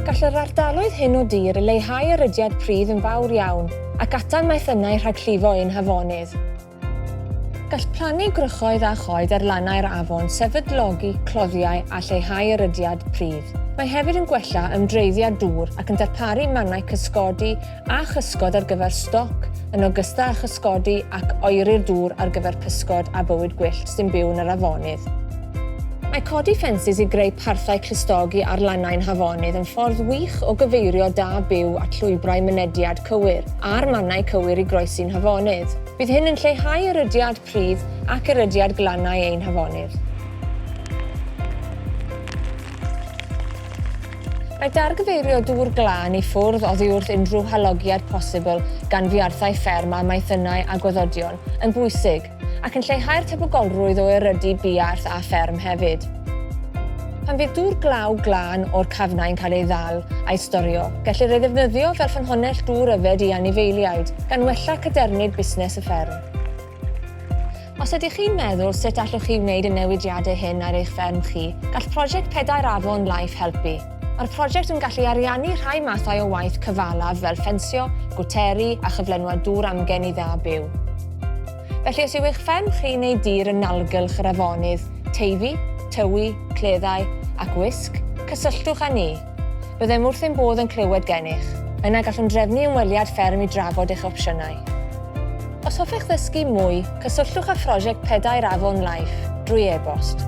Gall yr ardaloedd hyn o dir leihau y rhydiad pridd yn fawr iawn ac atal maethynnau rhag llifo ein hafonydd. Gall plannu gwrychoedd a choed ar lannau'r afon sefydlogi cloddiau a lleihau y rhydiad pridd. Mae hefyd yn gwella ymdreiddiad dŵr ac yn darparu mannau cysgodi a chysgod ar gyfer stoc, yn ogystal â chysgodi ac oeri'r dŵr ar gyfer pysgod a bywyd gwyllt sy'n byw yn yr afonydd. Mae codi ffensys i greu parthau clustogi ar lannau'n hafonydd yn ffordd wych o gyfeirio da byw at llwybrau mynediad cywir a'r mannau cywir i groesi'n hafonydd. Bydd hyn yn lleihau erydiad, pridd ac erydiad glannau ein hafonydd. Mae dargyfeirio dŵr glân i ffwrdd oddi wrth unrhyw halogiad posibl gan fiarthau fferm a maethynnau a gwaddodion yn bwysig, ac yn lleihau'r tebygolrwydd o erydu buarth a fferm hefyd. Pan fydd dŵr glaw glân o'r cafnau yn cael ei ddal a'i storio, gellir ei ddefnyddio fel ffynhonnell dŵr yfed i anifeiliaid, gan wella cadernid busnes y fferm. Os ydych chi'n meddwl sut allwch chi wneud y newidiadau hyn ar eich fferm chi, gall Prosiect Pedair Afon Life helpu. Mae'r prosiect yn gallu ariannu rhai mathau o waith cyfalaf fel ffensio, gwteri a chyflenwad dŵr amgen i dda byw. Felly os yw eich fferm chi neu dir yn nalgylch yr afonydd, Teifi, Tywi, Cleddau ac Wysg, cysylltwch â ni. Byddem wrth ein bodd yn clywed gennych. Yna gallwn drefnu ymweliad fferm i drafod eich opsiynau. Os hoffech ddysgu mwy, cysylltwch â Phrosiect Pedair Afon Life drwy e-bost.